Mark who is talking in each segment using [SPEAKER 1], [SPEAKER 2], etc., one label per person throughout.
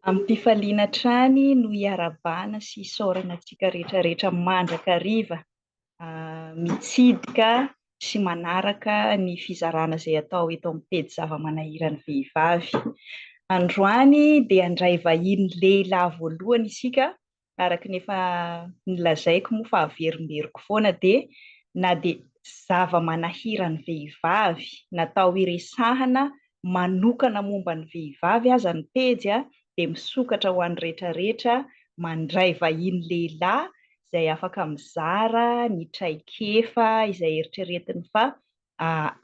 [SPEAKER 1] Amim-pifaliana hatrany no iarahabana sy isaorana antsika rehetra rehetra mandrakariva mitsidika sy manaraka ny fizarana izay atao eto amin'ny pejy zava-manahiran'ny vehivavy. Androany dia handray vahiny lehilahy voalohany isika araka ny efa nolazaiko moa fa averimberiko foana dia na dia zava-manahiran'ny vehivavy natao hiresahana manokana momba ny vehivavy aza ny pejy dia misokatra ho an'ny retraretra mandray vahiny lehilahy izay afaka mizara ny traikefa izay eritreretiny fa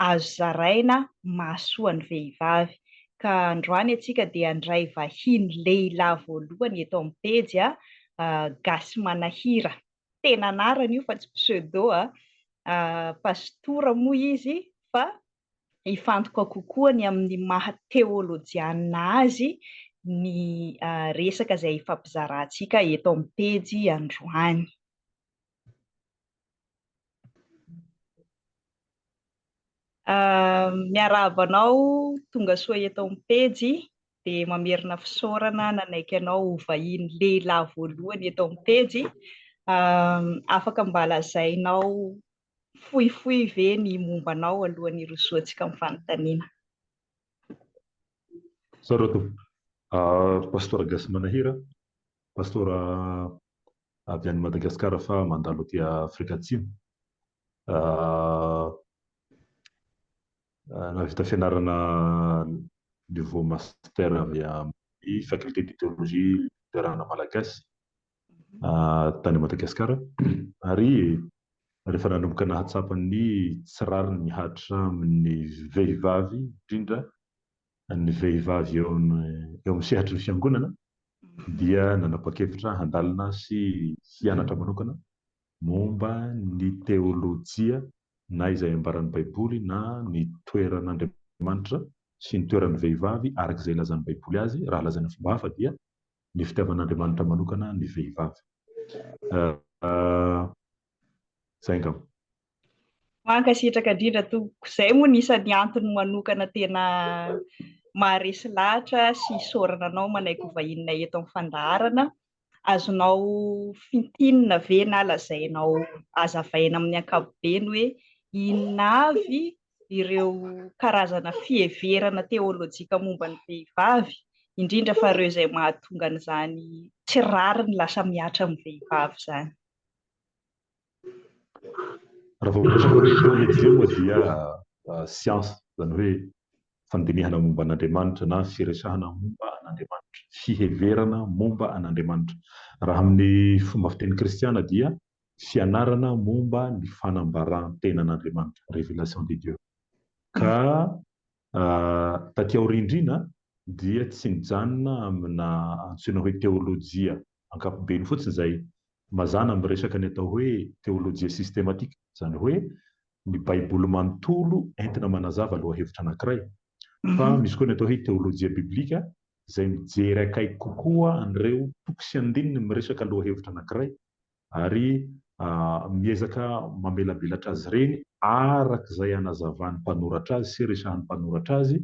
[SPEAKER 1] azo zaraina mahasoa ny vehivavy. Ka androany antsika dia handray vahiny lehilahy voalohany eto amin'ny pejy a, Gasy Manahira, tena anarany io fa tsy pseudo a, Pasitora moa izy fa hifantoka kokoa ny amin'ny maha teolojianina azy ny resaka izay hifampizarantsika eto amin'ny pejy androany. Ah, miarahaba anao, tonga soa eto amin'ny pejy, dia mamerina fisaorana nanaiky anao ho vahiny lehilahy voalohany eto amin'ny pejy. Ah, afaka mba lazainao fohifohy ve ny momba anao alohan'ny hirosoantsika amin'ny fanontaniana?
[SPEAKER 2] Sarotra. Ah, Pastora Gasy Manahira, Pastora avy any Madagascar fa mandalo aty Afrika Atsimo. Nahavita fianarana niveau master avy amin'ny faculté de théologie Luterana Malagasy tany Madagascar ary rehefa nanomboka nahatsapa ny tsy rariny mihatra amin'ny vehivavy indrindra ny vehivavy eo amin'ny sehatry ny Fiangonana dia nanapa-kevitra handalina sy hianatra manokana momba ny teolojia na izay ambaran'ny Baiboly na ny toeran'Andriamanitra sy ny toeran'ny vehivavy araka izay ilazan'ny Baiboly azy, raha lazaina fomba hafa dia ny fitiavan'Andriamanitra manokana ny vehivavy. Izay angamba.
[SPEAKER 1] Mankasitraka indrindra tompoko, izay moa no isan'ny antony manokana tena maharesy lahatra sy isaorana anao manaiky ho vahinonay eto amin'ny fandaharana, azonao fintinina ve na lazainao hazavaina amin'ny ankapobeny hoe inona avy ireo karazana fiheverana teolojika momba ny vehivavy, indrindra fa ireo izay mahatonga an'izany tsy rariny lasa mihatra amin'ny vehivavy izany.
[SPEAKER 2] Raha vao miresaka hoe teôlôjia moa dia siansa, izany hoe fandinihana momba an'Andriamanitra na firesahana momba an'Andriamanitra, fiheverana momba an'Andriamanitra. Raha amin'ny fomba fiteny kristiana dia fianarana momba ny fanambaran-tenan'Andriamanitra, révélation de Dieu. Ka Taty aoriana indrindra dia tsy nijanona amina antsoina hoe teolojia ankapobeny fotsiny izay. Mazàna miresaka ny atao hoe teolojia sistematika, izany hoe ny Baiboly manontolo entina manazava lohahevitra anankiray. Fa misy koa ny atao hoe teolojia biblika, izay mijery akaiky kokoa an'ireo toko sy andininy miresaka lohahevitra anankiray, ary miezaka mamelabelatra azy ireny araka izay anazavan'ny mpanoratra azy sy resahan'ny mpanoratra azy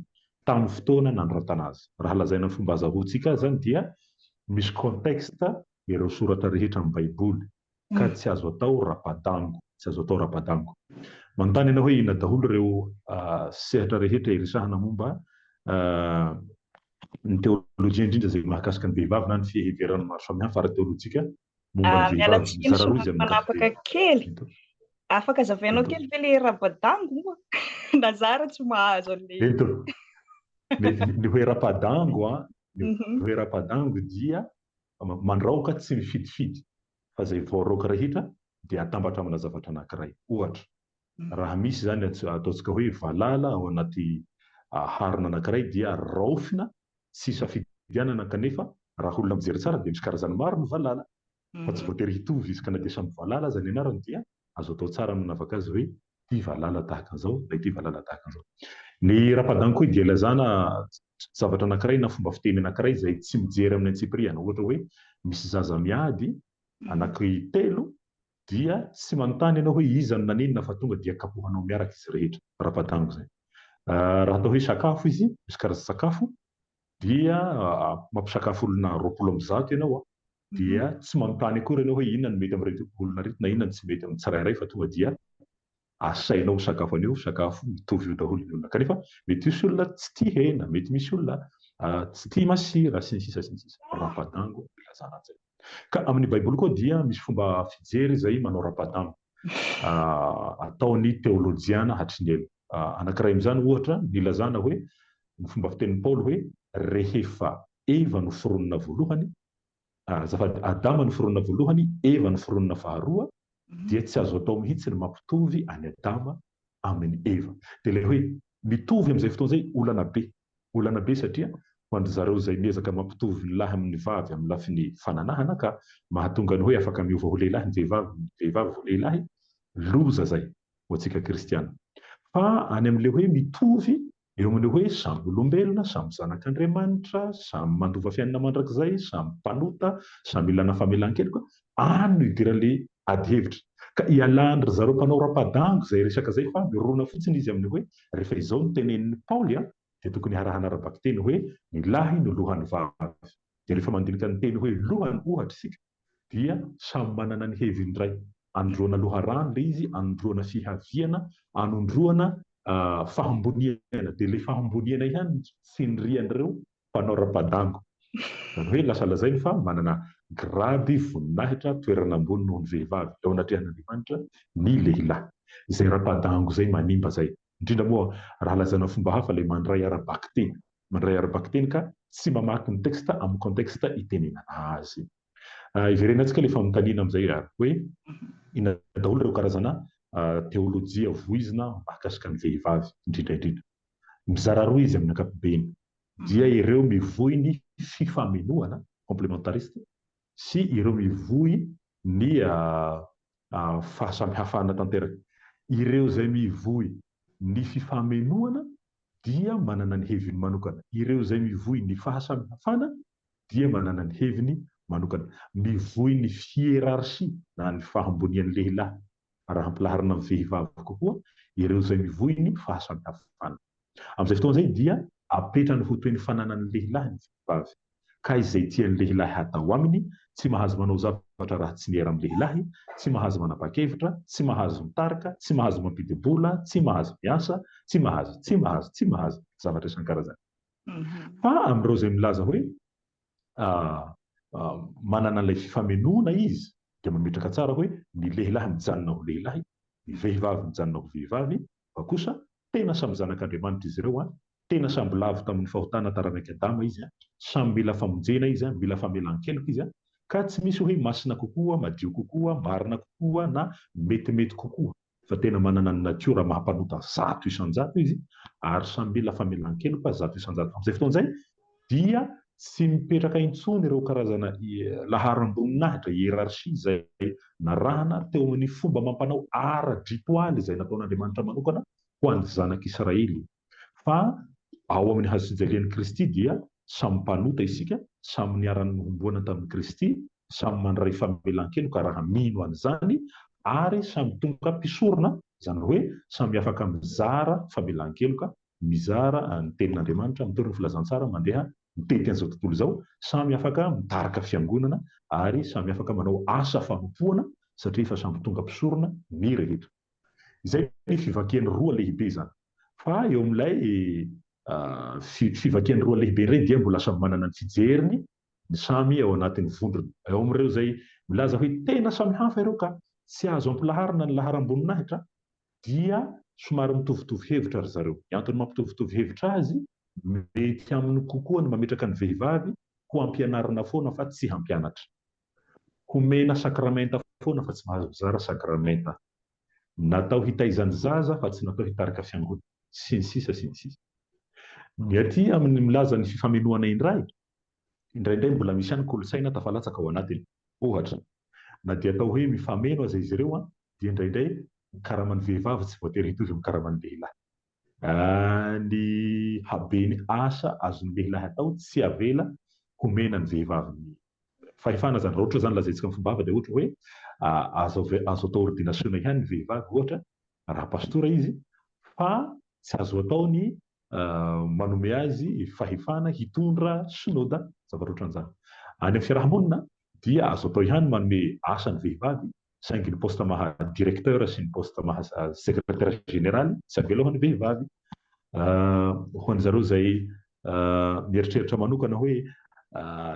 [SPEAKER 2] tamin'ny fotoana nanoratana azy. Raha lazaina amin'ny fomba azahoantsika azy izany dia misy contexte ireo soratra rehetra amin'ny Baiboly ka tsy azo atao rapa-dango, tsy azo atao rapa-dango. Manontany ianao hoe inona daholo ireo sehatra rehetra iresahana momba ny teolojia, indrindra izay mahakasika ny vehivavy na ny fiheveran'ny maro samihafa ara-teolojika momba ny vehivavy, mizara roa izy amin'ny ankapobeny.
[SPEAKER 1] Afaka zavainao kely ve le rapadango moa? Na za ary tsy mahazo an'le. Eto.
[SPEAKER 2] Ny hoe rapadango a, ny hoe rapadango dia mandraoka tsy mifidifity fa zay voaraoka rehetra dia atambatra amina zavatra anankiray. Ohatra, Raha misy izany ataontsika hoe valala ao anaty harona anankiray dia raofina sy safidianana kanefa raha olona mijery tsara dia misy karazany maro ny valala fa tsy voatery hitovy izy ka na dia samy valala aza ny anarany dia azo atao tsara ny manavaka azy hoe ity valala tahaka an'izao na ity valala tahaka an'izao. Ny Rapadankoy dia ilazana zavatra anankiray na fomba fiteny anankiray izay tsy mijery amin'ny antsipiriany ohatra hoe misy zaza miady anaky telo Dia tsy manontany ianao hoe iza no nanenina fa tonga dia kapohanao miaraka izy rehetra. Rapa-dango izay. Raha atao hoe sakafo izy, misy karazan-tsakafo, dia mampisakafo olona roapolo amin'ny zato ianao, dia tsy manontany akory ianao hoe inona no mety amin'ireto olona ireto na inona no tsy mety amin'ny tsirairay fa tonga dia asainao ho sakafo anio ho sakafo mitovy io daholo ny olona kanefa mety hisy olona tsy tia hena, mety misy olona tsy tia masira sy ny sisa sy ny sisa. Rapadango no ilazana an'izay. Ka amin'ny baiboly koa dia misy fomba fijery izay manao rapadango ataon'ny teolojiana hatry ny ela. Anankiray amin'izany ohatra ny ilazana hoe ny fomba fitenin'i Paoly hoe rehefa eva noforonina voalohany Azafady, Adama no foronina voalohany, Eva no foronina faharoa, dia tsy azo atao mihitsy ny mampitovy an'i Adama amin'i Eva. Dia ilay hoe mitovy amin'izay fotoana izay olana be. Olana be satria ho an-dry zareo izay miezaka mampitovy ny lahy amin'ny vavy amin'ny lafiny fananahana ka mahatonga ny hoe afaka miova ho lehilahy ny vehivavy, ny vehivavy ho lehilahy, loza izay ho antsika kristiana. Fa any amin'ilay hoe mitovy Eo amin'ny hoe samy olombelona, samy zanak'Andriamanitra, samy mandova fiainana mandrakizay, samy mpanota, samy ilana famelan-keloka, any no idiran'ilay adihevitra. Ka ialàn'ry zareo mpanao rapa-dango izay resaka izay fa mirona fotsiny izy amin'ny hoe rehefa izao no tenenin'i Paoly dia tokony harahana ara-bakiteny hoe ny lahy no lohan'ny vavy. Dia rehefa mandinika ny teny hoe lohany ohatra isika dia samy manana ny heviny iray, anondroana loharano ilay izy, anondroana fihaviana, anondroana fahamboniana, dia ilay fahamboniana ihany no tsindrian'ireo mpanao rapadango, izany hoe lasa lazainy fa manana grady, voninahitra, toerana ambony noho ny vehivavy eo anatrehan'Andriamanitra ny lehilahy. Izay rapadango izay manimba izay, indrindra moa raha lazaina fomba hafa ilay mandray ara-bakiteny. Mandray ara-bakiteny ka tsy mamaky ny texte amin'ny contexte itenenana azy. Iverenantsika ilay fanontaniana amin'izay ary hoe inona daholo ireo karazana teolojia voizina mahakasika ny vehivavy indrindra indrindra. Mizara roa izy amin'ny ankapobeny dia ireo mivoy ny fifamenoana, complementariste, sy ireo mivoy ny fahasamihafana tanteraka. Ireo izay mivoy ny fifamenoana dia manana ny heviny manokana. Ireo izay mivoy ny fahasamihafana dia manana ny heviny manokana. Mivoy ny hierarchie na ny fahambonian'ny lehilahy raha ampilaharina amin'ny vehivavy kokoa ireo izay mivoy ny fahasamihafana. Amin'izay fotoana izay dia apetrany ho toy ny fananan'ny lehilahy ny vehivavy, ka izay tian'ny lehilahy hatao aminy, tsy mahazo manao zavatra raha tsy miera amin'ny lehilahy, tsy mahazo manapa-kevitra, tsy mahazo mitarika, tsy mahazo mampidi-bola, tsy mahazo miasa, tsy mahazo, tsy mahazo, tsy mahazo, zavatra isan-karazany. Fa amin'ireo izay milaza hoe manana an'ilay fifamenoana izy dia mametraka tsara hoe ny lehilahy mijanona ho lehilahy, ny vehivavy mijanona ho vehivavy, Fa kosa tena samy zanak'Andriamanitra izy ireo an! Tena samby lavo tamin'ny fahotana taranak'i Adama izy an! Samy mila famonjena izy an! Mila famelan-keloka izy an! Ka tsy misy hoe masina kokoa, madio kokoa, marina kokoa na metimety kokoa. Fa tena manana ny natiora maha mpanota zato isan-jato izy ary samy mila famelan-keloka zato isan-jato. Amin'izay fotoana izay, dia tsy mipetraka intsony ireo karazana laharam-boninahitra, hiérarchie, izay narahana teo amin'ny fomba amam-panao ara-dritoaly izay nataon'Andriamanitra manokana ho an'ny zanak'Israely. Fa ao amin'ny hazofijalian'i Kristy dia samy mpanota isika, samy niara-nohomboana tamin'i Kristy, samy mandray famelan-keloka raha mino an'izany, ary samy tonga mpisorona, izany hoe samy afaka mizara famelan-keloka mizara ny Tenin'Andriamanitra, mitondra filazantsara mandeha mitety an'izao tontolo izao, samy afaka mitarika fiangonana ary samy afaka manao asa fanompoana satria efa samy tonga mpisorona ny rehetra. Izay ny fivakiany roa lehibe izany. Fa eo amin'ilay fivakiany roa lehibe indray dia mbola samy manana ny fijeriny ny samy ao anatin'ny vondrona. Ao amin'ireo izay milaza hoe tena samy hafa ireo ka tsy azo ampilaharina ny laharam-boninahitra dia somary mitovitovy hevitra ry zareo. Ny antony mampitovitovy hevitra azy, mety aminy kokoa ny mametraka ny vehivavy ho ampianarina foana fa tsy hampianatra. Homena sakramenta foana fa tsy mahazo mizara sakramenta. Natao hitaiza ny zaza fa tsy natao hitarika fiangonana. Sy ny sisa sy ny sisa. Ny aty aminy milaza ny fifamenoana indray Indraindray mbola misy ihany kolontsaina tafalatsaka ao anatiny. Ohatra, na dia atao hoe mifameno aza izy ireo, dia indraindray ny karaman'ny vehivavy tsy voatery hitovy amin'ny karaman'ny lehilahy. Ny haben'ny asa azon'ny lehilahy atao tsy avela homena ny vehivavy ny fahefana izany. Raha ohatra izany lazaintsika amin'ny fombava dia ohatra hoe azo azo atao ordinasiona ihany ny vehivavy ohatra raha pastora izy fa tsy azo atao ny manome azy fahefana hitondra synoda, zavatra ohatran'izany. Any amin'ny fiaraha-monina dia azo atao ihany ny manome asa ny vehivavy, saingy ny poste maha directeur sy ny poste maha secrétaire général tsy avela ho an'ny vehivavy. Ho an'ny zareo izay mieritreritra manokana hoe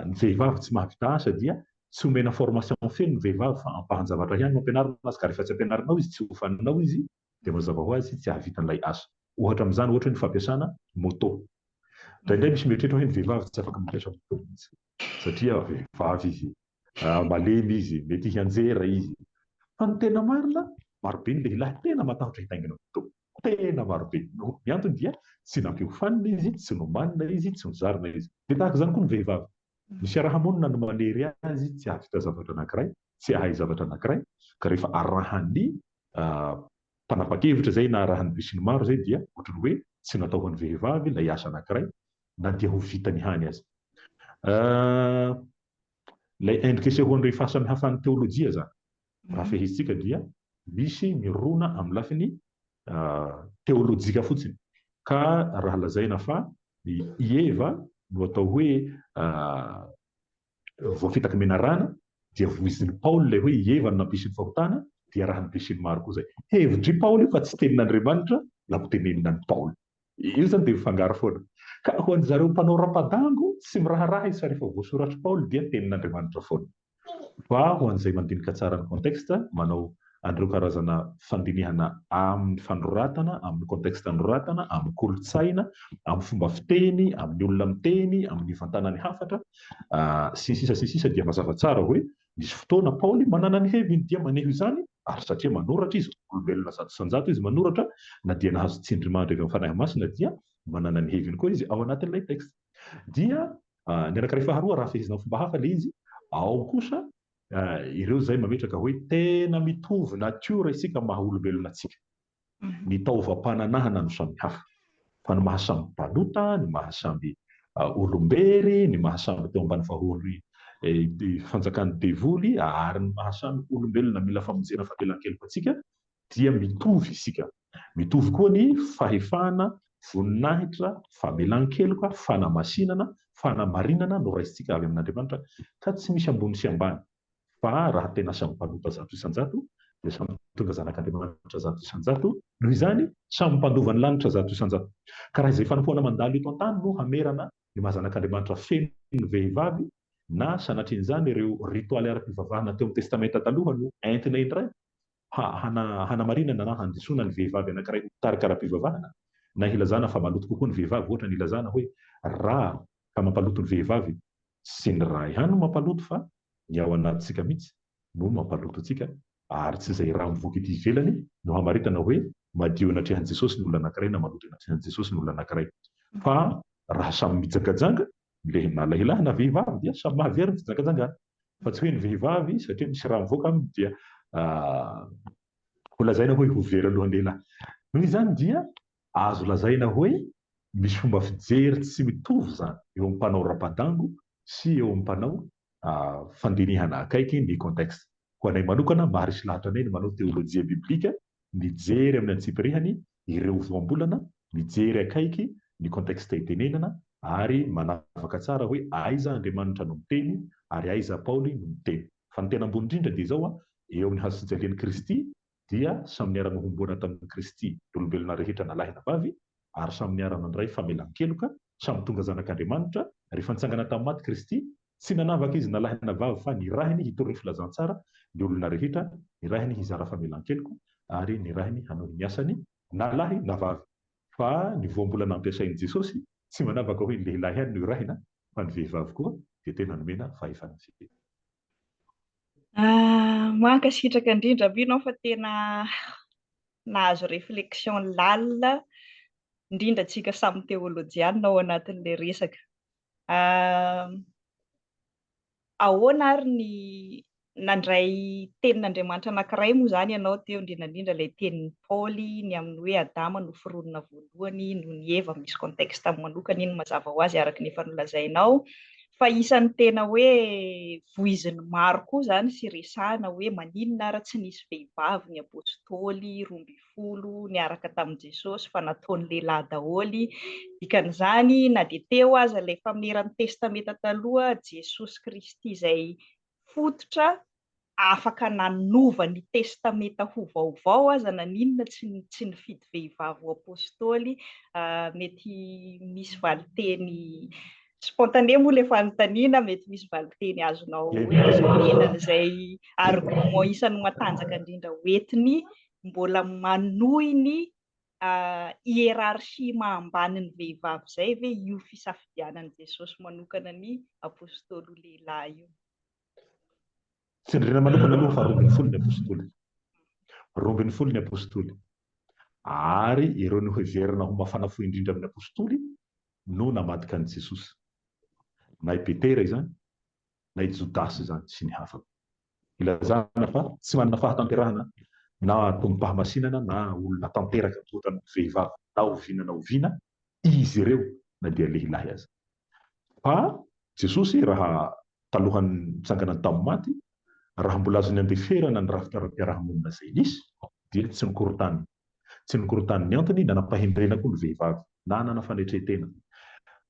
[SPEAKER 2] ny vehivavy tsy mahavita asa dia tsy omena formation feno ny vehivavy fa ampahan-javatra ihany no ampianarina azy ka rehefa tsy ampianarinao izy tsy hofaninao izy dia mazava ho azy tsy hahavita an'ilay asa. Ohatra amin'izany ohatra hoe ny fampiasana moto. Indraindray misy mieritreritra hoe ny vehivavy tsy afaka mampiasa moto mihitsy satria vehivavy izy, malemy izy, mety hianjera izy. Fa ny tena marina, marobe ny lehilahy tena matahotra hitaingina moto, tena marobe. Ny antony dia tsy nampiofanina izy, tsy nomanina izy, tsy nozarina izy. Dia tahaka izany koa ny vehivavy. Ny fiaraha-monina no manery azy tsy hahavita zavatra anankiray, tsy hahay zavatra anankiray, ka rehefa arahan'ny Mpanapa-kevitra izay naharahan'ny besinimaro izay dia ohatran'ny hoe tsy natao ho an'ny vehivavy ilay asa anankiray na dia ho vitany ihany aza. Ilay endrika isehoan'ireo fahasamihafan'ny teolojia izany, raha fehezintsika dia misy mirona amin'ny lafiny teolojika fotsiny. Ka raha lazaina fa i Eva no atao hoe voafitaky ny menarana, dia voizin'i Paoly ilay hoe i Eva no nampisy ny fahotana, dia arahin'ny péché-n'i maro koa izay. Hevitr'i Paoly io fa tsy tenin'Andriamanitra na ho tenenina an'i Paoly. Io izany dia mifangaro foana. Ka ho an'izareo mpanao rapa-dango, tsy miraharaha izy fa rehefa voasoratr'i Paoly dia tenin'Andriamanitra foana. Fa ho an'izay mandinika tsara ny contexte, manao an'ireo karazana fandinihana amin'ny fanoratana, amin'ny contexte anoratana, amin'ny kolontsaina, amin'ny fomba fiteny, amin'ny olona miteny, amin'ny vantanan'ny hafatra, sy ny sisa sy ny sisa dia mazava tsara hoe nisy fotoana Paoly manana ny heviny dia maneho izany ary satria manoratra izy, olombelona zato isan-jato izy manoratra na dia nahazo tsindrimandry avy amin'ny Fanahy Masina dia manana ny heviny koa izy ao anatin'ilay texte. Dia ny anankiray faharoa raha fehezina amin'ny fomba hafa ilay izy ao kosa Ireo izay mametraka hoe tena mitovy natiora isika maha olombelona antsika. Ny taovam-pananahana no samihafa. Fa ny maha samy mpanota, ny maha samy olombery, ny maha samy teo ambany vahory fanjakan'ny devoly ary ny maha samy olombelona mila famonjena famelan-keloka antsika dia mitovy isika. Mitovy koa ny fahefana, voninahitra, famelan-keloka, fanamasinana, fanamarinana noraisintsika avy amin'Andriamanitra, ka tsy misy ambony sy ambany, fa raha tena samy mpanota zato isan-jato, dia samy mpitondra zanak'Andriamanitra zato isan-jato, noho izany, samy mpandova ny lanitra zato isan-jato. Ka raha izay fanompoana mandalo eto an-tany no hamerana ny maha zanak'Andriamanitra feno ny vehivavy, na sanatrian'izany ireo ritoaly ara-pivavahana teo amin'ny Testamenta Taloha no entina indray, Hanamarinana na handisoana ny vehivavy anankiray ho mpitarika ara-pivavahana, na hilazana fa maloto kokoa ny vehivavy, ohatra ny ilazana hoe rà ka mampaloto ny vehivavy, tsy ny rà ihany no mampaloto fa ny ao anatintsika mihitsy no mampaloto antsika, ary tsy izay rà mivoaka ety ivelany no hamaritana hoe madio eny atrehan'i Jesosy ny olona anankiray na maloto eny atrehan'i Jesosy ny olona anankiray, fa rà samy mijangajanga Le na lahilahy na vehivavy dia samy mahavery ny fijangajangana fa tsy hoe ny vehivavy satria misy rà mivoaka aminy dia ho lazaina hoe ho very alohan'ny lehilahy. Noho izany dia azo lazaina hoe misy fomba fijery tsy mitovy izany eo amin'ny mpanao rapa-dango sy eo amin'ny mpanao fandinihana akaiky ny contexte. Ho anay manokana, maharesy lahatra anay ny manao teolojia biblika, mijery amin'ny antsipirihany ireo voambolana, mijery akaiky ny contexte itenenana, ary manavaka tsara hoe aiza Andriamanitra no miteny ary aiza Paoly no miteny. Fa ny tena ambony indrindra dia izao, eo amin'ny hazofijalian'i Kristy dia samy niara-nohomboana tamin'i Kristy ny olombelona rehetra na lahy na vavy, ary samy niara-nandray famelan-keloka, samy tonga zanak'Andriamanitra, rehefa nitsangana tamin'ny maty Kristy, tsy nanavaka izy na lahy na vavy fa nirahiny hitory ny filazantsara ny olona rehetra, nirahiny hizara famelan-keloka, ary nirahiny hanohy ny asany, na lahy na vavy. Fa ny voambolana ampiasain'i Jesosy, tsy manavaka hoe ny lehilahy ihany no irahina, fa ny vehivavy koa dia tena nomena fahefana feno.
[SPEAKER 1] Mankasitraka indrindra Amino an fa tena nahazo réflexion lalina indrindra antsika samy teolojianina ao anatin'ilay resaka. Ahoana ary ny nandray tenin'Andriamanitra anankiray moa izany ianao teo indrindra indrindra ilay tenin'i Paoly ny amin'ny hoe Adama no foronina voalohany noho ny Eva, misy contexte manokana iny mazava ho azy araka ny efa nolazainao fa isan'ny tena hoe voizin'ny maro koa izany sy resahina hoe maninona ary tsy nisy vehivavy ny Apôstôly roa ambin'ny folo niaraka tamin'i Jesosy fa nataony lehilahy daholo, dikan'izany na dia teo aza ilay fameran'ny Testamenta Taloha, Jesosy Kristy izay fototra afaka nanova ny Testamenta ho vaovao aza na n'inona tsy tsy nifidy vehivavy ho Apôstôly, mety misy valinteny spontané moa ilay fanontaniana, mety misy valinteny azonao omena an'izay argument isan'ny matanjaka indrindra hoentiny mbola manohy ny hiérarchie maha ambany ny vehivavy izay ve io fisafidianan'i Jesosy manokana ny Apôstôly ho lehilahy io? Tsindriana
[SPEAKER 2] manokana aloha fa roa ambin'ny folo ny apostoly. Roa ambin'ny folo ny apostoly. Ary ireo noheverina ho mafana fo indrindra amin'ny apostoly no namadika an'i Jesosy. Na i Petera izany, na i Jodasy izany sy ny hafa. Ilazana fa tsy manana fahatanterahana na tombom-pahamasinana na olona tanteraka toa ohatran'ny vehivavy na oviana na oviana izy ireo na dia lehilahy aza. Fa Jesosy, raha talohan'ny nitsanganany tamin'ny maty, raha mbola azony andeferana ny rafitra ara-piarahamonina izay nisy, dia tsy nikorontaniny. Tsy nikorontaniny ny antony, nanam-pahendrena koa ny vehivavy, nanana fanetren-tena.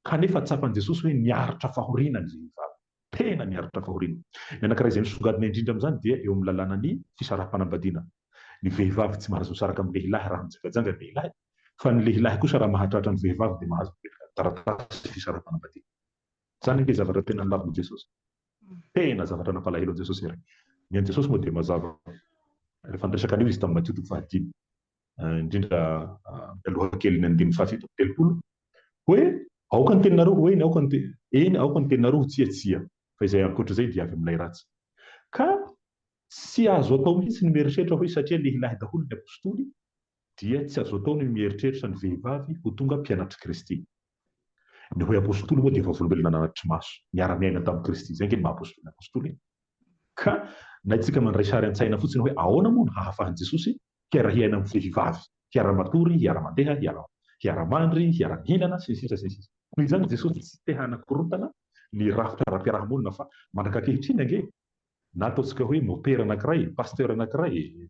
[SPEAKER 2] Kanefa tsapan'i Jesosy hoe niaritra fahoriana ny vehivavy. tena miaritra fahoriana. Ny anankiray izay misongadina indrindra amin'izany dia eo amin'ny lalànan'ny fisaraham-panambadiana. Ny vehivavy tsy mahazo misaraka amin'ny lehilahy raha mijangajanga ny lehilahy, fa ny lehilahy kosa raha mahatratra ny vehivavy dia mahazo mipetraka ny taratasy fisaraham-panambadiana. Izany ange zavatra tena nolavin'i Jesosy. Tena zavatra nampalahelo an'i Jesosy ary. Ny an'i Jesosy moa dia mazava. Rehefa niresaka an'io Izy tamin'i Matio toko fahadimy. indrindra ny lohakelin'ny andininy fahafito amby telopolo, hoe, Aoka ny teninareo ho eny, aoka ny, eny, aoka ny teninareo ho tsia, tsia, fa izay ankoatra izay dia avy amin'ilay ratsy. Ka tsy azo atao mihitsy ny mieritreritra hoe satria lehilahy daholo ny apostoly, dia tsy azo atao ny mieritreritra ny vehivavy ho tonga mpianatr'i Kristy. Ny hoe apostoly moa dia vavolombelona nanatri-maso, niara-niaina tamin'i Kristy. Izay ange ny maha-apostoly ny apostoly e! Ka na isika mandray sary an-tsaina fotsiny hoe ahoana moa no hahafahan'i Jesosy hiara-hiaina amin'ny vehivavy, hiara-matory, hiara-mandeha, hiara-mandry, hiara-mihinana, sy ny sisa sy ny sisa. Noho izany Jesosy tsy te-hanakorontana ny rafitra ara-piarahamonina fa mandrak'ankehitriny ange Na ataontsika hoe mopera anankiray, pasteur anankiray,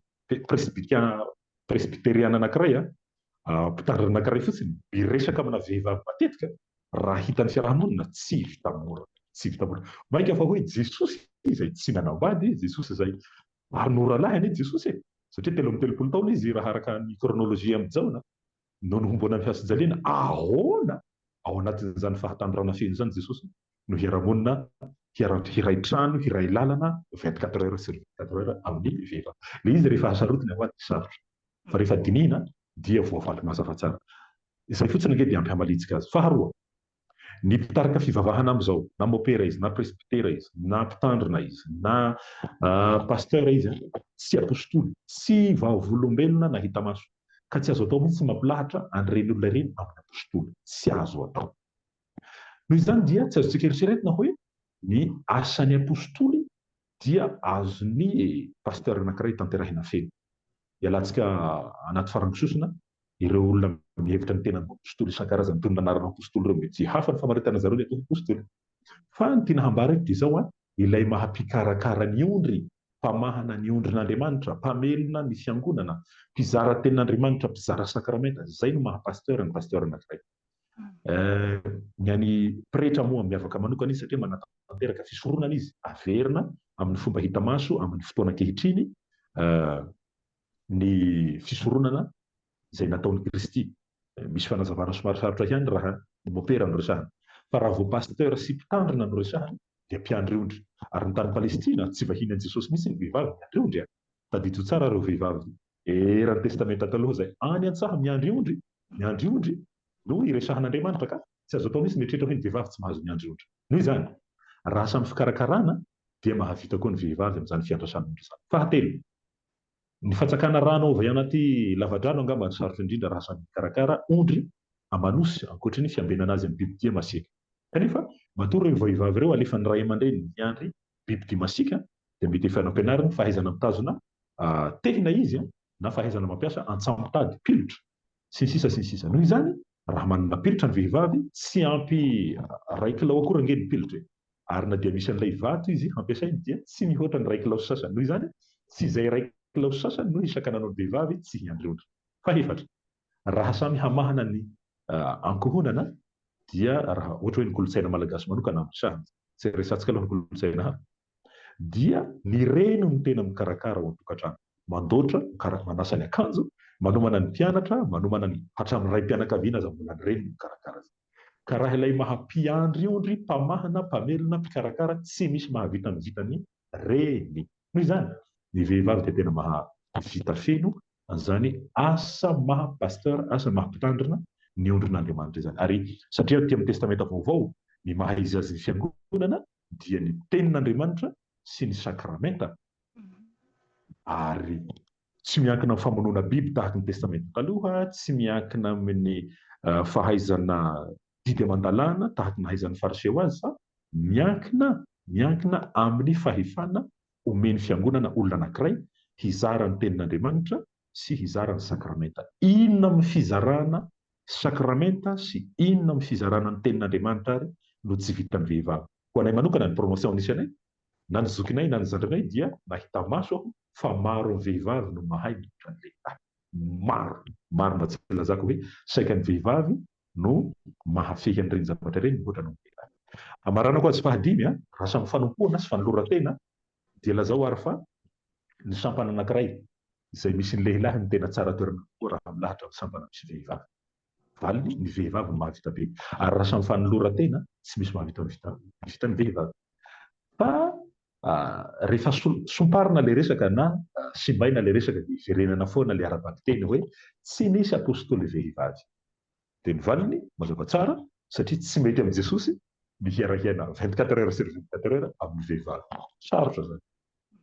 [SPEAKER 2] presbyteriana anankiray, mpitandrina anankiray fotsiny, miresaka amina vehivavy matetika, raha hitan'ny fiaraha-monina, tsy vita mora. Tsy vita mora. Mainka fa hoe Jesosy izay tsy nanambady, Jesosy izay, ary norahalahy anie Jesosy e! satria telo amby telopolo taona Izy raha araka ny kronolojia amin'i Jaona. No nohomboana ny hazojaliana. Ahoana? Ao anatin'izany fahatanorana feno izany Jesosy no hiara-monina, hiara-, hiray trano, hiray lalana vingt quatre heures sur vingt quatre heures amin'ny vehivavy. Ilay izy rehefa hasarotiny aloha dia sarotra. Fa rehefa dinihina dia voavaly mazava tsara. Izay fotsiny ange dia hampihamalitsika azy. Faharoa, Ny mpitarika fivavahana amin'izao, na mopera izy, na presbytera izy, na mpitandrina izy, na pasteur izy, tsy apostoly, tsy vavolombelona nahita maso, ka tsy azo atao mihitsy ny mampilahatra an'ireny olona ireny amin'ny apostoly. Tsy azo atao. Noho izany dia tsy azontsika eritreretina hoe ny asan'ny apostoly Dia azony e! Pasteur anankiray tanterahina feno. Ialantsika anaty farango sosona ireo olona mihevitra ny tenany ho apostoly isan-karazany toy ny nanarana apostoly ireo mety hafa ny famaritana zareo ny atao apostoly. Fa ny tiana hambara eto dia izao an, ilay maha mpikarakara ny ondry, mpamahana ny ondrin'Andriamanitra, mpamelona ny fiangonana, mpizara tenin'Andriamanitra, mpizara sakramenta, izay no maha pasteur ny pasteur anankiray. Ny an'ny pretra moa miavaka manokana izy satria manatanteraka fisoronana izy, averina amin'ny fomba hita maso amin'ny fotoana ankehitriny ny fisoronana izay nataon'i Kristy. Misy fanazavana somary sarotra ihany raha ny mopera no resahana. Fa raha vao pasteur sy mpitandrina no resahana dia mpiandry ondry. Ary ny tany Palestina tsy vahiny an'i Jesosy mihitsy ny vehivavy miandry ondry an! Tadidio tsara ireo vehivavy. Eran'ny testamenta taloha izay. Any an-tsaha miandry ondry, miandry ondry. No iresahan'Andriamanitra ka. Tsy azo atao mihitsy ny mieritreritra hoe ny vehivavy tsy mahazo miandry ondry. Noho izany, raha samy fikarakarana dia mahavita koa ny vehivavy amin'izany fiandrasan'ondry izany. Fahatelo, ny fatsakana rano ao avy anaty lavadrano angamba no sarotra indrindra raha samy mikarakara ondry aman'osy, ankoatry ny fiambenana azy amin'ny bibidia masiaka. Kanefa, matoa ireo vehivavy ireo alefan'ny ray aman-dreniny hiandry Bibidia masiaka dia mety efa nampianariny fahaizana mitazona tehina izy na fahaizana mampiasa antsamotady, pilotra, sy ny sisa sy ny sisa. Noho izany, raha manana pilotra ny vehivavy, tsy ampy iray kilao akory ange ny pilotra e! Ary na dia misy an'ilay vato izy hampiasainy dia tsy mihoatra ny iray kilao sy sasany. Noho izany, tsy izay iray kilao sy sasany no isaka nanao ny vehivavy tsy hiandry ondry. Fahefatra, Raha samy hamahana ny ankohonana dia raha ohatra hoe ny kolontsaina malagasy manokana no resahana, tsy resahantsika aloha ny kolontsaina hafa, dia ny reny no tena mikarakara ao an-tokantrano, mandoatra, manasa ny akanjo, manomana ny mpianatra, manomana ny hatramin'ny raim-pianakaviana aza mbola ny reny no mikarakara azy. Ka raha ilay maha mpiandry io ndry mpamahana, mpamelona, mpikarakara, tsy misy mahavita mivita ny reny. Noho izany, ny vehivavy dia tena mahavita feno An'izany asa maha Pasteur, asa maha Mpitandrina ny ondrin'Andriamanitra izany. Ary satria aty amin'ny Testamenta Vaovao ny maha izy azy ny Fiangonana dia ny Tenin'Andriamanitra sy ny Sakramenta, ary tsy miankina amin'ny famonoana biby tahaka ny Testamenta Taloha, tsy miankina amin'ny fahaizana didy aman-dalàna tahaka ny nahaizan'ny Fariseo azy, fa miankina miankina amin'ny fahefana Omen'ny Fiangonana olona anankiray hizara ny Tenin'Andriamanitra sy hizara ny Sakramenta. Inona amin'ny fizarana Sakramenta sy inona amin'ny fizarana ny Tenin'Andriamanitra ary no tsy vitan'ny vehivavy? Ho anay manokana, ny promotion nisy anay, na ny zokinay na ny zandrinay dia nahita maso aho fa maro amin'ny vehivavy no mahay mihoatra ny lehilahy. Maro! Marina tsy lazako hoe saika ny vehivavy no mahafehy an'ireny zavatra ireny mihoatra noho ny lehilahy. Amaranako azy fahadimy, raha samy fanompoana sy fanoloran-tena, dia lazao ary fa ny sampana anankiray izay misy ny lehilahy no tena tsara toerana kokoa raha milahatra amin'ny sampana misy vehivavy. Valiny, ny vehivavy no mahavita be, ary raha samy fanoloran-tena, tsy misy mahavita mivita ny vehivavy. Fa rehefa somparina ilay resaka na simbaina ilay resaka dia hiverenana foana ilay ara-bakiteny hoe tsy nisy apostoly vehivavy. Dia ny valiny mazava tsara satria tsy mety amin'i Jesosy ny hiara-hiaina vingt quatre heures sur vingt quatre heures amin'ny vehivavy. Sarotra izany.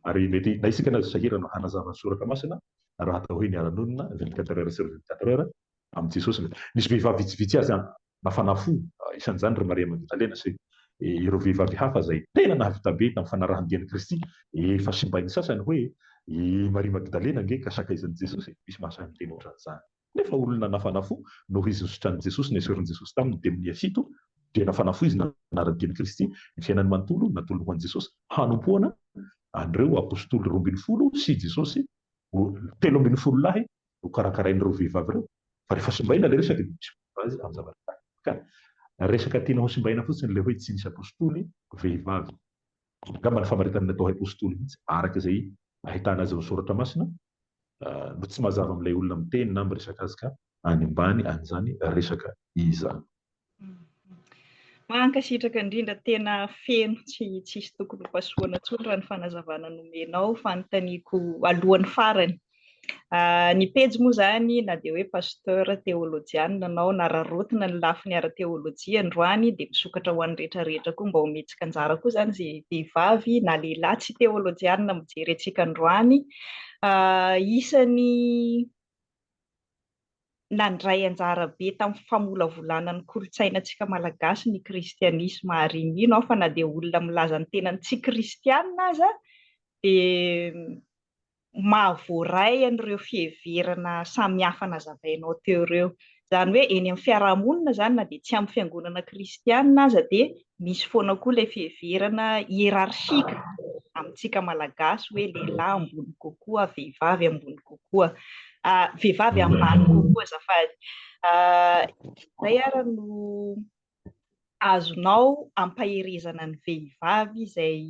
[SPEAKER 2] Ary mety na isika na azo sahirana hanazava ny Soratra Masina raha atao hoe niara-nonina vingt quatre heures sur vingt quatre heures amin'i Jesosy ve. Nisy vehivavy vitsivitsy azy an, nafana fo, isan'izany ry Maria Magdalena sy ireo vehivavy hafa izay tena nahavita be tamin'ny fanarahan-dian'i Kristy. Efa simbain'ny sasany hoe i Maria Magdalena ange ka sakaizan'i Jesosy. Misy mahasahy miteny ohatran'izany. Nefa olona nafana fo no izy nositranin'i Jesosy, nesorin'i Jesosy taminy demonia fito, dia nafana fo izy nanary ny dian'i Kristy, ny fiainany manontolo natolony ho an'i Jesosy hanompoana an'ireo apostoly roa ambin'ny folo sy Jesosy ho telo ambin'ny folo lahy nokarakarain'ireo vehivavy ireo. Fa rehefa simbaina ilay resaka dia misy manova azy amin'ny zavatra tahaka izany. Ka resaka tiana hosimbaina fotsiny ilay hoe tsy nisy apostoly vehivavy. Angamba ny famaritana ny atao haipostoly mihitsy, araka izay ahitana azy ao amin'ny Soratra Masina, no tsy mazava amin'ilay olona miteny na miresaka azy ka any ambany an'izany resaka izany.
[SPEAKER 1] Mankasitraka indrindra, tena feno, tsy tsisy tokony hopasohana intsony raha ny fanazavana nomenao, fanontaniako alohan'ny farany Ny pejy moa izany na dia hoe pasteur, teolojianina ianao, nararotina ny lafiny ara-teolojia androany dia misokatra ho an'ny rehetra rehetra koa mba ho mihetsika anjara koa izany izay vehivavy na lehilahy tsy teolojianina mijery antsika androany. Isan'ny nandray anjara be tamin'ny famolavolana ny kolontsainantsika malagasy ny kristianisma ary mino aho fa na dia olona milaza ny tenany tsy kristianina aza dia mahavoaray an'ireo fiheverana samihafa nazavainao teo ireo. Izany hoe eny amin'ny fiarahamonina izany na dia tsy amin'ny fiangonana kristiana aza dia misy foana koa ilay fiheverana hiérarchique amintsika malagasy hoe lehilahy ambony kokoa, vehivavy ambony kokoa, vehivavy ambany kokoa azafady. Izay ary no azonao ampaherezana ny vehivavy izay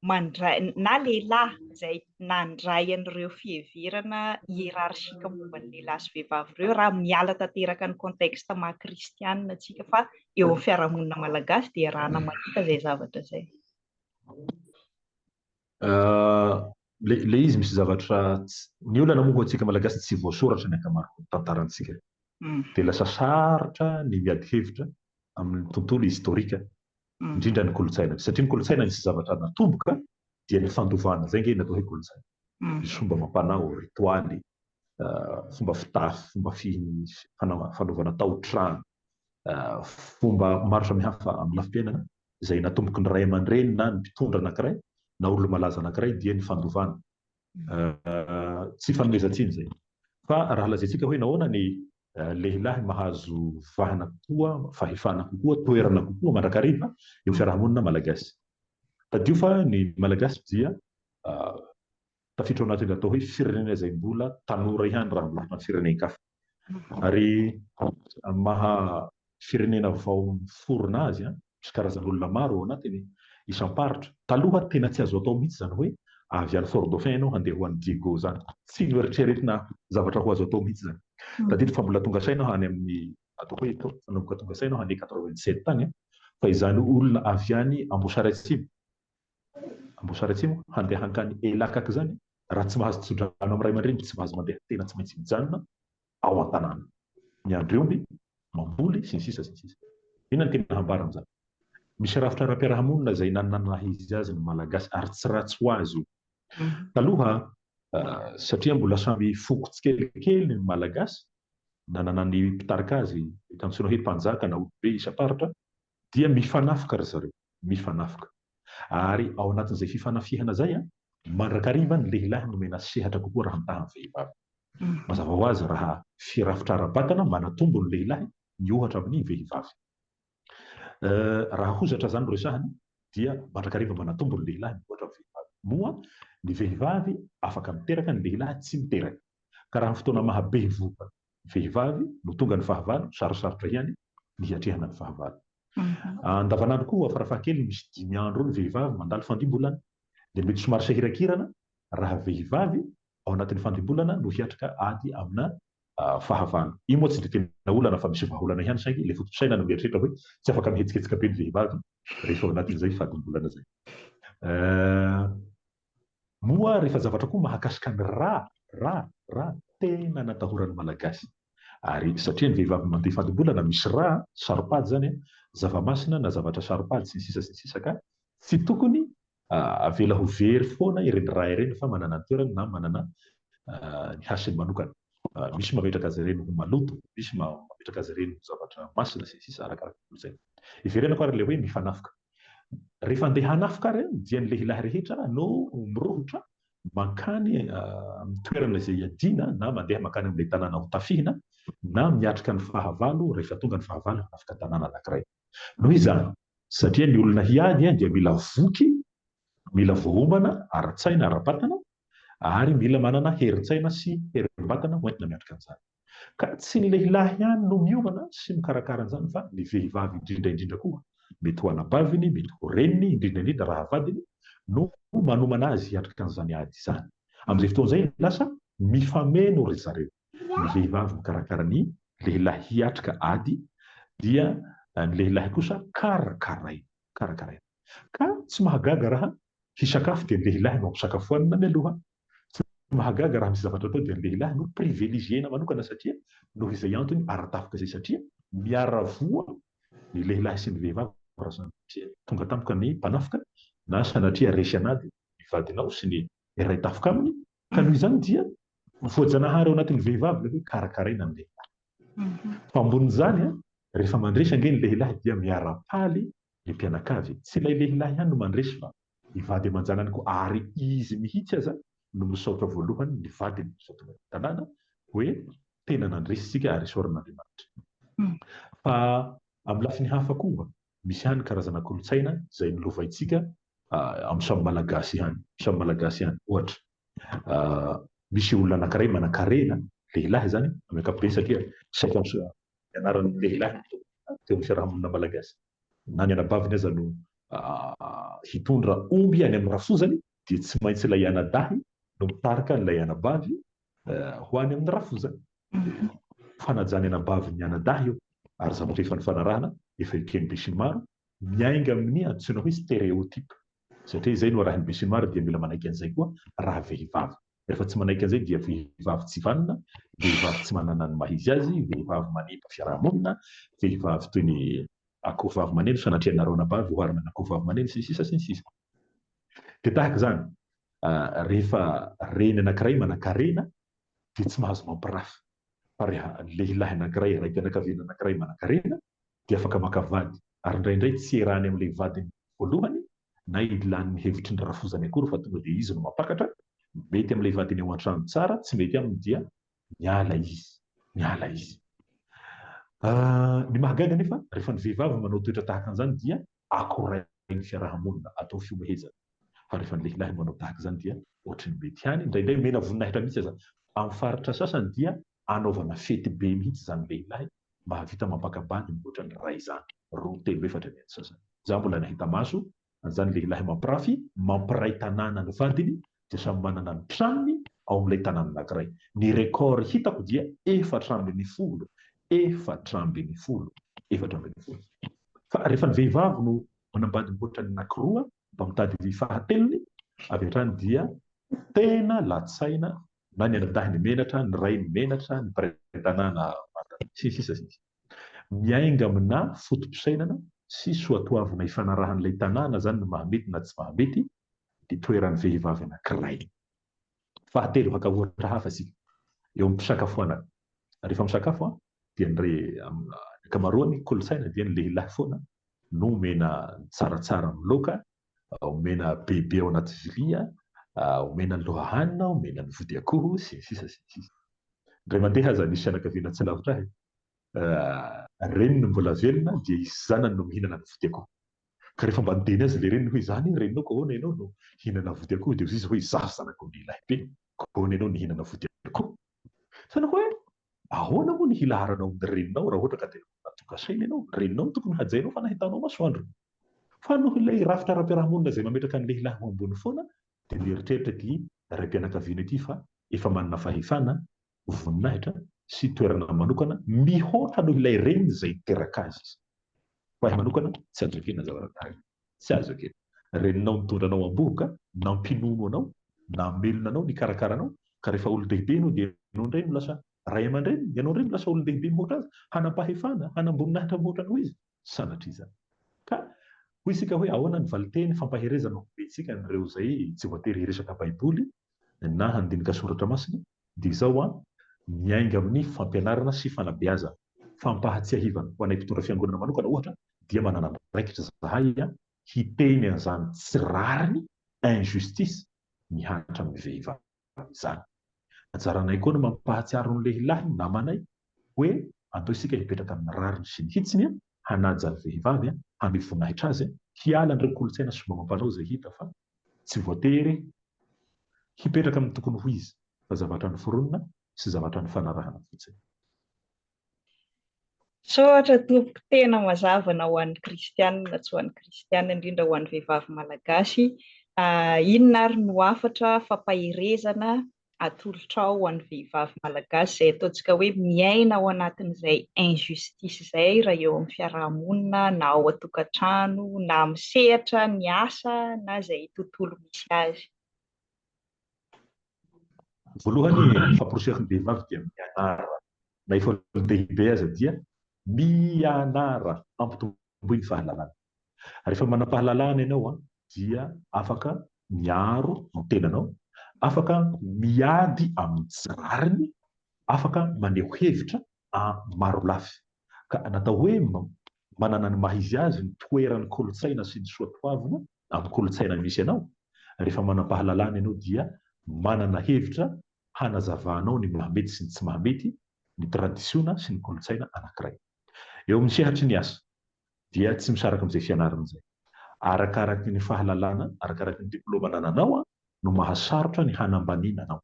[SPEAKER 1] mandray na lehilahy izay nandray an'ireo fiheverana hiérarchique momba ny lehilahy sy vehivavy ireo raha miala tanteraka ny contexte maha kristianina antsika fa eo amin'ny fiarahamonina malagasy dia arahana mahita izay zavatra izay.
[SPEAKER 2] Ahh le izy misy zavatra tsy. Ny olana moa hoantsika malagasy tsy voasoratra ny ankamaroan'ny tantarantsika dia lasa sarotra ny miady hevitra amin'ny tontolo historika indrindra ny kolontsaina satria ny kolontsaina misy zavatra natomboka dia ny fandovana izay nge natao hoe kolontsaina misy fomba amam-panao ritoaly fomba fitafy fomba fanaovana taotrano fomba maro samihafa amin'ny lafim-piainana izay natomboky ny ray aman-dreny na ny mpitondra anankiray na olona malaza anankiray dia ny fandovana. Tsy fanomezan-tsiny izay. Fa raha lazaintsika hoe nahoana ny lehilahy mahazo vahana kokoa, fahefana kokoa, toerana kokoa mandrakariva eo fiarahamonina malagasy. Tadidio fa ny malagasy dia tafiditra ao anatin'ilay atao hoe firenena izay mbola tanora ihany raha miompy amin'ny firenen-kafa. Ary ny maha firenena vao miforona azy, misy karazan'olona maro ao anatiny, isam-paritra. Taloha tena tsy azo atao mihitsy izany hoe avy any Fort Dauphin ianao handeha ho any Diego izany. Tsy noeritreretina zavatra ho azo atao mihitsy izany. Tadidiko fa mbola tonga saina aho any amin'ny atao hoe epoque nanomboka tonga saina aho any quatre-vingt-sept any fa izany olona avy any Amboasary Atsimo Amboasary Atsimo handeha hankany Elakaka izany raha tsy mahazo tso-drano amin'ny ray aman-dreniny tsy mahazo mandeha tena tsy maintsy mijanona ao an-tanàna miandry omby mamboly sy ny sisa sy ny sisa Inona ny tena hambara amin'izany? Misy rafitra ara-piarahamonina izay nanana ny maha izy azy ny Malagasy ary tsy ratsy ho azy io taloha satria mbola samy foko tsikelikely ny Malagasy nanana ny mpitarika azy eto antsoina hoe mpanjaka na olom-be isam-paritra Dia mifanafika ry zareo, mifanafika. Ary ao anatin'izay fifanafihana izay, mandrakariva ny lehilahy nomena sehatra kokoa raha mitaha ny vehivavy. Mazava ho azy raha firafitra ara-batana, manatombo ny lehilahy ny ohatra amin'ny vehivavy. Raha hozatra izany no resahina, dia mandrakariva manatombo ny lehilahy ny ohatra amin'ny vehivavy. Moa ny vehivavy afaka miteraka, ny lehilahy tsy miteraka. Ka raha ny fotoana maha-bevohoka vehivavy no tonga ny fahavalo, sarosarotra ihany ny hiatrehana ny fahavalo. Andavanandro koa, farafahakeliny misy dimy andro eo ny vehivavy mandalo fandimbolana, dia mety somary sahirakirana raha vehivavy ao anatin'ny fandimbolana no hiatrika ady amina fahavalo. Io moa tsy dia tena olana fa misy vahaolana ihany saingy ilay fotosaina no mieritreritra hoe tsy afaka mihetsiketsika be ny vehivavy rehefa ao anatin'izay fadimbolana izay. Moa rehefa zavatra koa mahakasika ny ra, ra, ra, tena natahoran'ny Malagasy. Ary satria ny vehivavy mandeha fadim-bolana misy ra, saro-pady izany an, zava-masina na zavatra saro-pady sy ny sisa sy ny sisa ka tsy tokony avela ho very foana ireny ra ireny fa manana ny toerany na manana ny hasiny manokana. Misy mametraka azy ireny ho maloto, misy mametraka azy ireny ho zavatra masina sy ny sisa arakaraka ny kolontsaina. Iverenako ary ilay hoe mifanafoka. Rehefa andeha hanafika ary dia ny lehilahy rehetra no mirohotra mankany amin'ny toerana izay iadiana na mandeha mankany amin'ilay tanàna hotafihina na miatrika ny fahavalo rehefa tonga ny fahavalo hanafika tanàna anankiray. Noho izany, satria ny olona hiady dia mila voky, mila voaomana ara-tsaina, ara-batana ary mila manana herin-tsaina sy herim-batana hoentina miatrika an'izany. Ka tsy ny lehilahy ihany no miomana sy mikarakara an'izany fa ny vehivavy indrindra indrindra koa, mety ho anabaviny, mety ho reniny, indrindra indrindra raha vadiny no manomana azy hiatrika an'izany ady izany. Amin'izay fotoana izay lasa mifameno ry zareo. Ny vehivavy mikarakara ny lehilahy hiatrika ady dia ny lehilahy kosa karakaraina, karakaraina. Ka tsy mahagaga raha hisakafo dia ny lehilahy no ampisakafoanina mialoha Tsy mahagaga raha misy zavatra atao dia ny lehilahy no privilegiena manokana satria noho izay antony ara-tafika izay satria miara-voa ny lehilahy sy ny vehivavy raha sanatria tonga tampoka ny mpanafika na sanatria resy an'ady ny vadinao sy ny iray tafika aminy ka noho izany dia voajanahary ao anatin'ny vehivavy ilay hoe karakaraina ny lehilahy. Fa ambonin'izany an, rehefa mandresy ange ny lehilahy dia miara-paly Ny mpianakavy, tsy ilay lehilahy ihany no mandresy fa. Ny vady aman-janany koa ary izy mihitsy aza no misaotra voalohany ny vadiny, misaotra ny tanàna hoe tena nandresy isika ary isaorana Andriamanitra. Fa amin'ny lafiny hafa koa misy ihany karazana kolontsaina izay nolovaintsika, amin'ny samy malagasy ihany samy malagasy ihany ohatra misy olona anankiray manankarena lehilahy izany amin'ny ankapobeny satria saika ny anaran'ny lehilahy no teo amin'ny fiarahamonina malagasy. Na ny anabaviny aza no hitondra omby any amin'ny rafozany dia tsy maintsy ilay anadahy no mitarika an'ilay anabavy ho any amin'ny rafozany. Fanajany anabavy ny anadahy io ary zavatra efa nifanarahana efa eken'ny besinimaro, miainga amin'ny antsoina hoe stéréotype. Satria izay no arahin'ny besinimaro ary dia mila manaiky an'izay koa raha vehivavy. Rehefa tsy manaiky an'izay dia vehivavy tsy vanona, vehivavy tsy manana ny maha izy azy, vehivavy manimba fiaraha-monina, vehivavy toy ny akohovavy maneno, sanatria ianareo anabavy oharina amin'ny akohovavy maneno, sy ny sisa sy ny sisa. Dia tahaka izany, rehefa reny anankiray manan-karena dia tsy mahazo mampirafy, fa rehefa lehilahy anankiray, raim-pianakaviana anankiray manan-karena dia afaka maka vady ary indraindray tsy erany amin'ilay vadiny voalohany na ilany ny hevitry ny rafozany akory fa tonga dia izy no mampakatra, mety amin'ilay vadiny ao an-trano tsara, tsy mety aminy dia miala izy, miala izy. Ny mahagaga anefa rehefa ny vehivavy manao toetra tahaka an'izany dia akorain'ny fiaraha-monina, atao fihomehezana, fa rehefa ny lehilahy no manao tahaka izany dia ohatry ny mety ihany, indraindray omena voninahitra mihitsy aza, amin'ny faritra sasany dia anaovana fety be mihitsy izany lehilahy mba hahavita mampakambany mihoatra ny iray izany, roa, telo, efatra eny antsasany. Izaho mbola nahita maso an'izany lehilahy mampirafy, mampiray tanàna ny vadiny dia samy manana ny tranony ao amin'ilay tanàna anankiray. Ny record hitako dia efatra ambin'ny folo, efatra ambin'ny folo, efatra ambin'ny folo. Fa rehefa ny vehivavy no manambady mihoatra ny anankiroa mba mitady ny fahatelony avy hatrany dia tena latsaina na ny anadahiny menatra, ny rainy menatra, ny mpiray tanàna manta, sy ny sisa sy ny sisa. Miainga aminà foto-pisainana sy soatoavina ifanarahan'ilay tanàna izany ny mahamety na tsy mahamety ny toeran'ny vehivavy anankiray. Fahatelo, haka ohatra hafa isika, eo amin'ny fisakafoanana. Rehefa misakafo dia ny re, amin'ny ankamaroan'ny kolontsaina dia ny lehilahy foana no omena ny tsaratsara amin'ny laoka omena bebe ao anaty vilia, omena ny lohahanina, omena ny vody akoho, sy ny sisa sy ny sisa. Indray mandeha aza nisy fianakaviana tsy lavitra ahy, reny no mbola velona dia i zanany no mihinana ny vody akoho. Ka rehefa mba niteny azy ilay reniny hoe izany e, reninao ka ahoana ianao no hihinana vody akoho dia hoy izy hoe izaho zanak'ombilahy be, ka ahoana ianao no hihinana vody akoho? Hitanao hoe ahoana moa ny hilaharanao ny reninao raha ohatra ka dia natoka saina ianao. Ny reninao no tokony hajainao fa nahitanao masoandro. Fa noho ilay rafitra ara-piarahamonina izay mametraka ny lehilahy ho ambony foana dia mieritreritra ity raim-pianakaviana ity fa efa manana fahefana, voninahitra sy toerana manokana mihoatra noho ilay reniny izay niteraka azy izy. Ho ahy manokana tsy azo ekena ny zavatra tahaka izao. Tsy azo ekena. Reninao nitondra anao am-bohoka, nampinono anao, namelona anao, nikarakara anao, ka rehefa olon-dehibe ianao dia ianao indray no lasa ray aman-dreniny, ianao indray no lasa olon-dehibe mihoatra azy, hanam-pahefana, hanam-boninahitra mihoatra anao izy. Sanatria izany. Ka, hoy isika hoe, ahoana ny valinteny fampaherezana omentsika an'ireo izay tsy voatery hiresaka Baiboly na handinika soratra masina dia izao an, miainga amin'ny fampianarana sy fanabeazana. Fampahatsiahivana, ho anay mpitondra fiangonana manokana ohatra dia manana andraikitra izahay hiteny an'izany tsy rariny, injustice, mihatra amin'ny vehivavy izany. Anjaranay koa ny mampahatsiaro ny lehilahy, ny namanay, hoe andao isika hipetraka amin'ny rariny sy ny hitsiny, hanaja ny vehivavy, hamely voninahitra azy, hiala an'ireo kolontsaina sy fomba amam-panao izay hita fa Tsy voatery hipetraka amin'ny tokony ho izy fa zavatra noforonina sy zavatra nifanarahana fotsiny. Misaotra
[SPEAKER 1] tompoko tena mazava na ho an'ny kristianina na tsy ho an'ny kristianina indrindra ho an'ny vehivavy malagasy inona ary no hafatra fampaherezana atolotrao ho an'ny vehivavy malagasy izay ataontsika hoe miaina ao anatin'izay injustice izay raha eo amin'ny fiarahamonina na ao an-tokantrano na amin'ny sehatra ny asa na izay tontolo misy azy?
[SPEAKER 2] Voalohany, ny famporisihan'ny vehivavy dia mianara, na efa olon-dehibe aza dia mianara, ampitomboy ny fahalalana. Rehefa manam-pahalalana ianao dia afaka miaro ny tenanao, afaka miady amin'ny tsy rariny, afaka maneho hevitra marolafy. Ka natao hoe manana ny maha izy azy ny toeran'ny kolontsaina sy ny soatoavina amin'ny kolontsaina misy anao. Rehefa manam-pahalalana ianao dia manana hevitra hanazavanao ny mahamety sy ny tsy mahamety, ny tradisiona sy ny kolontsaina anankiray. Eo amin'ny sehatry ny asa, dia tsy misaraka amin'izay fianarana izay. Arakaraky ny fahalalana, arakaraky ny diplaoma anananao no mahasarotra ny hanambaniana anao.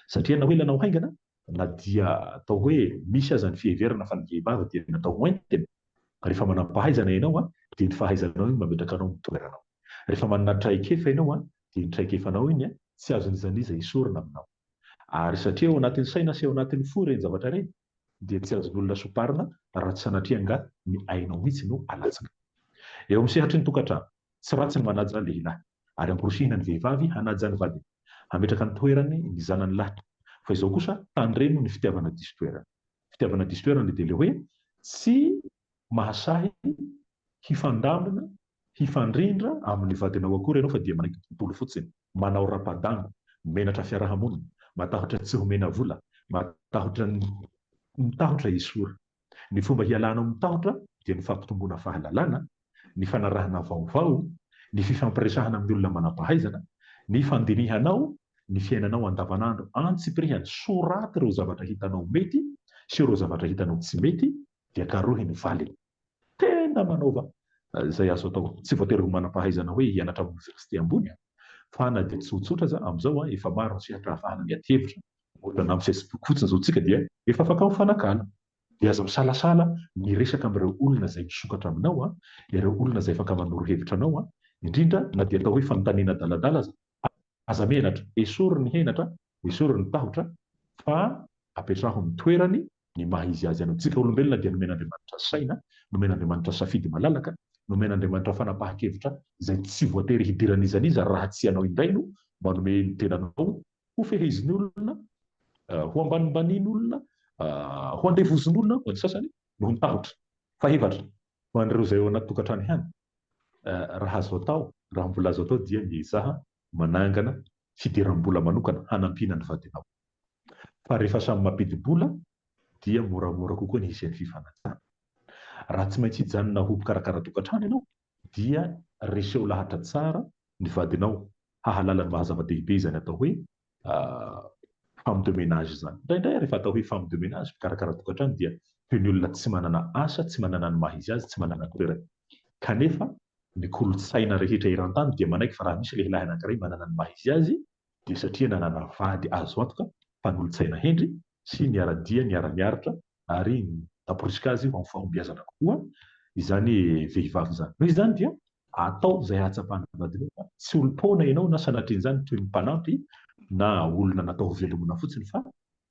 [SPEAKER 2] Satria na hoe ilanao haingana, na dia atao hoe misy aza ny fiheverana fa ny vehivavy dia natao ho haingana, rehefa manam-pahaizana ianao dia ny fahaizanao iny mametraka anao amin'ny toeranao. Rehefa manana traikefa ianao dia ny traikefanao iny tsy azon'iza n'iza esorina aminao. Ary satria ao anatin'ny saina sy ao anatin'ny fo ireny zavatra ireny, dia tsy azon'olona soparina raha tsy sanatria angaha ny ainao mihitsy no alatsaka. Eo amin'ny sehatry ny tokantrano, tsy ratsy ny manaja lehilahy, ary amporosihina ny vehivavy hanaja ny vadiny, hametraka ny toerany ny zanany lahy, fa izao kosa tandremo ny fitiavana diso toerana. Fitiavana diso toerana dia ilay hoe tsy mahasahy hifandamina Hifandrindra amin'ny vadinao akory ianao fa dia manaiky tontolo fotsiny, manao rapa-dango, menatra fiaraha-monina, matahotra tsy homena vola, matahotra ny mitahotra esory. Ny fomba hialanao amin'ny tahotra dia ny fampitomboana fahalalana, ny fanarahana vaovao, ny fifampiresahana amin'ny olona manam-pahaizana, ny fandinihanao ny fiainanao andavanandro antsipirihany, soraty ireo zavatra hitanao mety sy ireo zavatra hitanao tsy mety dia karohy ny valiny. Tena manaova izay azo atao. Tsy voatery ho manam-pahaizana hoe hianatra amin'ny oniversite ambony an! Fa na dia tsotsotra aza, amin'izao an, efa maro ny sehatra ahafahana miady hevitra. Ohatra, na amin'ny Facebook fotsiny izao tsika dia efa afaka mifanakalo. Dia aza misalasala miresaka amin'ireo olona izay misokatra aminao an, ireo olona izay afaka manoro hevitra anao an, indrindra na dia atao hoe fanontaniana adaladala aza. Aza menatra, esory ny henatra, esory ny tahotra, fa apetraho amin'ny toerany ny maha izy azy anao. Tsika olombelona dia nomen'Andriamanitra saina, nomen'Andriamanitra safidy malalaka, nomen'Andriamanitra fanapahan-kevitra izay tsy voatery hidiran'iza n'iza raha tsy ianao indray no manome ny tenanao ho fehezin'olona, ho ambanimbanian'olona, ho andevozin'olona hoy ny sasany, noho ny tahotra. Fahefatra, ho an'ireo izay ao anaty tokantrano ihany, Raha azo atao, raha mbola azo atao dia miezaha manangana fidiram-bola manokana hanampiana ny vadinao. Fa rehefa samy mampidi-bola dia moramora kokoa ny hisian'ny fifanajana. Raha tsy maintsy hijanona ho mpikarakara tokantrano ianao dia reseho lahatra tsara ny vadinao hahalala ny maha-zava-dehibe izany atao hoe femme de ménage izany. Indraindray rehefa atao hoe femme de ménage, mpikarakara tokantrano dia toy ny olona tsy manana asa, tsy manana ny maha izy azy, tsy manana toerana. Kanefa ny kolontsaina rehetra eran-tany dia manaiky fa raha misy lehilahy anankiray manana ny maha izy azy dia satria nanana vady azo antoka, mpanolotsaina hendry sy niara-dia, niara-niaritra ary namporisika azy ho amin'ny fahombiazana kokoa izany vehivavy izany. Noho izany dia Ataovy izay hahatsapan'ny vadinao fa tsy olom-poana ianao na sanatrian'izany toy ny mpanampy na olona natao hovelomina fotsiny fa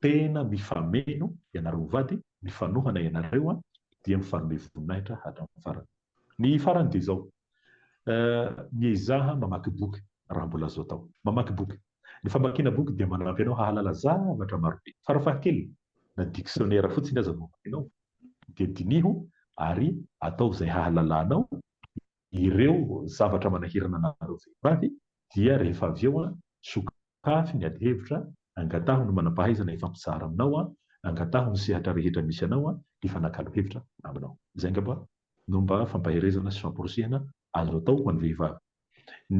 [SPEAKER 2] tena mifameno ianareo ho vady, mifanohana ianareo dia mifanome voninahitra hatramin'ny farany. Ny farany dia izao, miezaha mamaky boky raha mbola azo atao. Mamaky boky. Ny famakiana boky dia manampy anao hahalala zavatra maro be. Farafahakeliny, na diksionera fotsiny aza no amakianao, dia diniho ary ataovy izay hahalalanao ireo zavatra manahirana anareo vehivavy, dia rehefa avy eo, sokafy ny adihevitra, angataho ny manam-pahaizana hifampizara aminao, angataho ny sehatra rehetra misy anao hifanakalo hevitra aminao. Izay angamba no mba fampaherezana sy famporisihana azo atao ho an'ny vehivavy.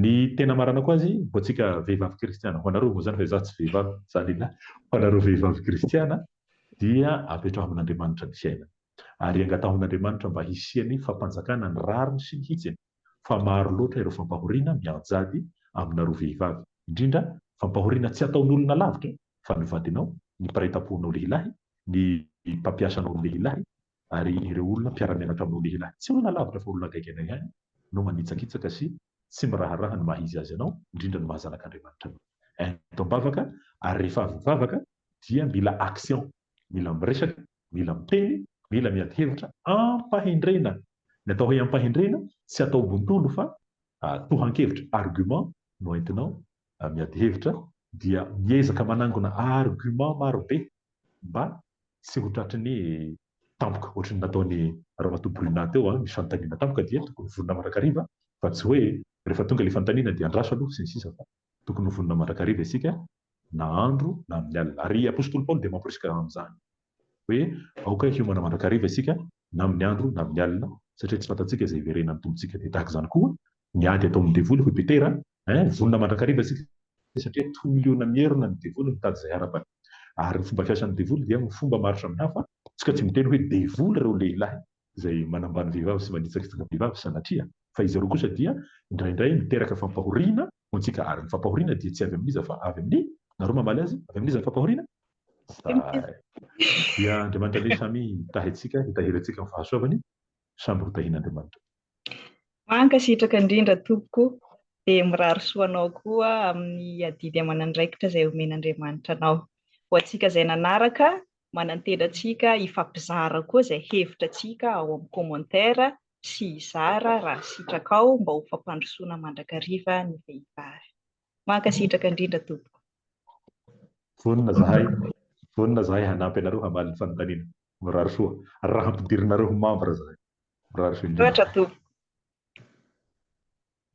[SPEAKER 2] Ny tena maranako azy, ho antsika vehivavy kristiana, ho anareo moa izany fa izaho tsy vehivavy, za lehilahy, ho anareo vehivavy kristiana dia apetraho amin'Andriamanitra ny fiainana ary angataho an'Andriamanitra mba hisian'ny fampanjakana ny rariny sy ny hitsiny fa maro loatra ireo fampahoriana mianjady aminareo vehivavy, indrindra fampahoriana tsy ataon'olona lavitra fa ny vadinao, ny mpiray tamponao lehilahy, ny mpampiasanao lehilahy, Ary ireo olona mpiara-mianatra aminao lehilahy tsy olona lavitra fa olona akaiky anay ihany no manitsakitsaka sy tsy miraharaha ny maha izy azy anao, indrindra ny maha zanak'Andriamanitra anao. Entam-bavaka ary rehefa avy mivavaka dia mila action, mila miresaka, mila miteny, mila miady hevitra am-pahendrena. Ny atao hoe am-pahendrena tsy atao bontolo fa tohan-kevitra, argument, no entinao miady hevitra dia miezaka manangona argument maro be mba tsy ho tratry ny tampoka ohatry ny nataon'i Ramatoa Bruna teo ny fanontaniana tampoka dia tokony ho vonona mandrakariva fa tsy hoe rehefa tonga ilay fanontaniana dia andraso aloha sy ny sisa fa tokony ho vonona mandrakariva isika na andro na amin'ny alina ary Apositoly Paoly dia mamporisika amin'izany hoe aoka hiomana mandrakariva isika na amin'ny andro na amin'ny alina satria tsy fantatsika izay hiverenan'ny Tompontsika dia tahaka izany koa Ny ady ataon'ny devoly hoy Petera eh, vonona mandrakariva isika satria tolona mierona ny devoly mitady izay harapany. Ary ny fomba fiasan'ny devoly dia amin'ny fomba maro samihafa, isika tsy miteny hoe devoly ireo lehilahy izay manambany vehivavy sy manitsakitsaka vehivavy sanatria fa izy ireo kosa dia indraindray miteraka fampahoriana ho antsika ary ny fampahoriana dia tsy avy amin'iza fa avy amin'ny nareo mamaly azy avy amin'iza ny fampahoriana? Zay dia Andriamanitra ve samy hitahy antsika hitahiry antsika amin'ny fahasoavany? Samy hotahian'Andriamanitra.
[SPEAKER 1] Mankasitraka indrindra tompoko, dia mirary soa anao koa amin'ny adidy aman'andraikitra izay omen'Andriamanitra anao. Ho antsika izay nanaraka, manantena antsika hifampizara koa izay hevitra antsika ao amin'ny commentaire sy hizara raha sitrakao mba ho fampandrosoana mandrakariva ny vehivavy. Mankasitraka indrindra tompoko. Vonona zahay
[SPEAKER 2] vonona zahay hanampy anareo hamaly ny fanontaniana. Mirary soa. Ra hampidirinareo ho membre zahay. Mirary soa indrindra. Misaotra tompoko.